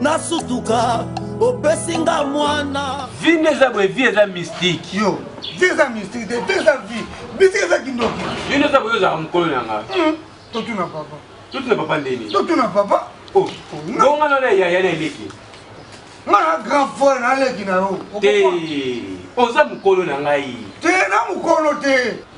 nasutuka opesi nga mwana vi nde eza boye vi eza mystique yo vi eza mystique te vi eza vi mystique eza kindoki yo nde eza boye ozalaka mokolo na nga hmm, totuna papa totuna papa ndeni totuna papa oh, bonga nana yaya na eleki nga na grand frère naleki na yo te oza mokolo na ngai te na mokolo te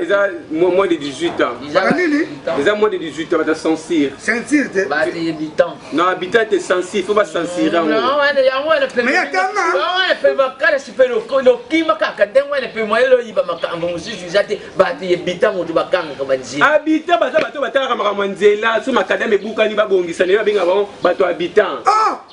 eza moins de 18 ans eza moins de 18 ans bata censure censure te non habitant te censure faut bacensure lokima kaka ndenge wana mpe moye loyiba makambo mosusu eza te bato yebita moto bakangaka banzela habitant baza bato batalaka makambo ya nzela so makadame ebukani babongisa naye babenga bango bato habitant ah!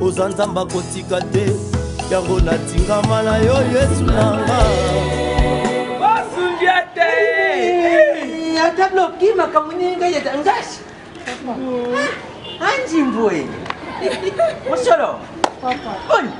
oza nzambe akotika te yango natingama na yo yesu nanga basundia te ata bloki makambo nini ngai eza ngasi anjimboe mosolo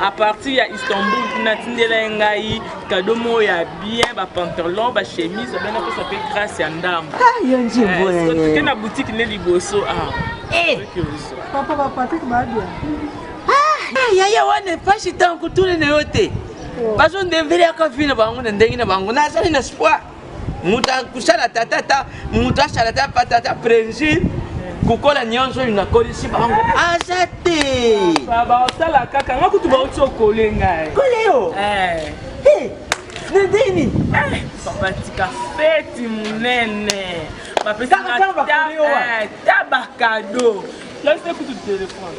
à partir ya istanbul kuna atindela ye ngai kado moko ya bien bapantalon bachemise abe napesa mpe grace ya ndambo ke na boutique nde liboso awa papa bapatrick babia yaya wana epashi ntango kotuna na yo te bazondembele yaka vi na bango na ndenge na bango nazali na spoi moto akusala tata ata moto asala ata pata ata presi kokola nyonso oyo nakolisi bango aza te baosala kaka nga kutu bauti okole ngai kole yo eh. eh, na ndeni eh, batika feti monene bapesaka ta bakado lasi kutu telefone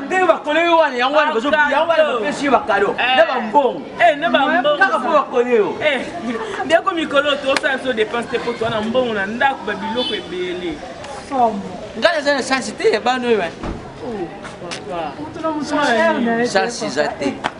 nde bakole yo wana yango wana yango wana bapesi yo bakado na bambongo kaka mpo bakole yo ndeko mikolo tosala biso dépense te mpo toa na mbongo na ndako babiloko ebele ngai naza na sansi te ya bana oyo sansi eza te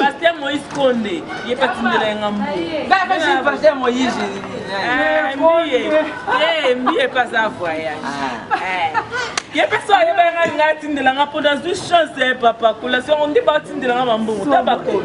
Pasteur Moïse Konde, ye patindela yanga mbu. Ba ba je pasteur Moïse. Eh, mbiye. Eh, mbiye pas à voyage. Ah. Eh. ye mpe so ayeba yanga alinga atindela nga mpo nazwi chance ya papa kola songo nde batindela nga bambongo ta bakolo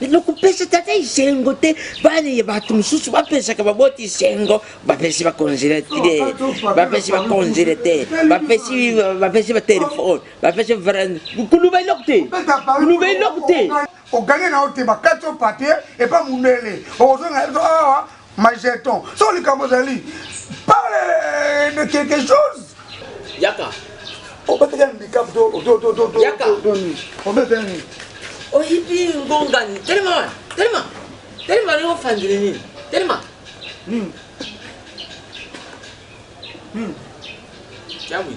nakopesa tata esengo te bana ya bato mosusu bapesaka baboti esengo bapesi bacongele te bapesi bacongele te bapesi batelefone bapesi vrand koluba eloko te koluba eloko te oganye na yo te bakati yo papier epa mundele okozonga awa ma jeton so likambo ozali parle de quelque chose yaka obetaki handicap obetaki nini oyibi ngongani telema wana telema telema ndenge ofandeli nini telema nini nini tiamwi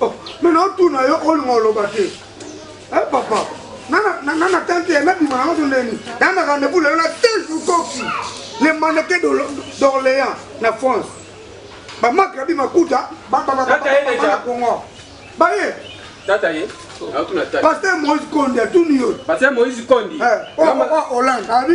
Oh, mais na otuna yo olinga oloba te eh, papa nana tante ya nabima na maso ndeni naa na rendez-vous lelo na tejour koki le maneke d'orléans na france bamaki abi makuta bababababana kongo baye tata ye paster moïse kondi atuni yo paster moïse kondi eh, oh, oh, oh, hollande abi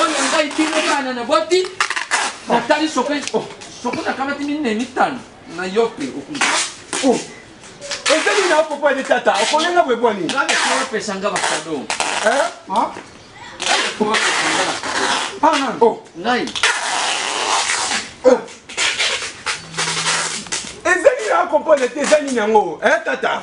oyo ngai bino bana na boti natali soki soki nakamati minei mitano na yo mpe okuzi ezali na papa de tata okolenga boye bwani opesa nga bakado ngai ezali na comprendre te eza nini yango tata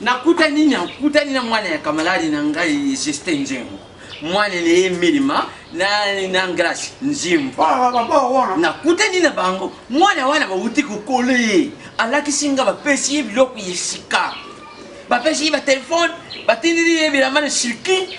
nakutani nakutani na mwana ya kamaladi na ngai justin nzengo mwana na ye milima na ngrasi nzimbu nakutani na bango mwana wana bauti kokola ye alakisi nga bapesi ye biloko ya sika bapesi ye batelefone batindili ye bilamba na sirki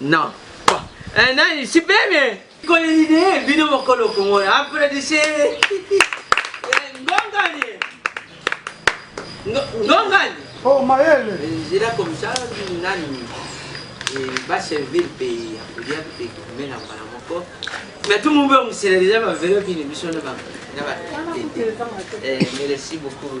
Na pa eh na ici bebe. Kole ni de bino mokolo kongo ya apredise. Ngongani. Ngongani. Oh mayele. Zira comme ça nani. Ba servir pays ya kulia pe kumela mbala moko. Mais tout le monde me sera déjà ma vélo qui ne me sonne pas. Merci beaucoup.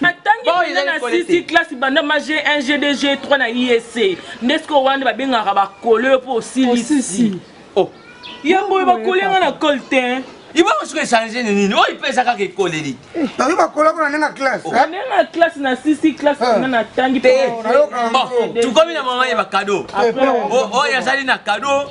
natangi mpenza na sisi classe banda ma g1 g2 g3 na isc nde sikoyo wana babengaka bakolo yo mpo osilisi oh. yango oyo bakoli yanga na cole te ibongo soki echange ni nini oyo mpe eza kaka ekoleli oyo bakola kuna nenga classe oh. nenga classe na sisi classe kuna na tangi te tukomi na mama ye bakado oyo azali na kado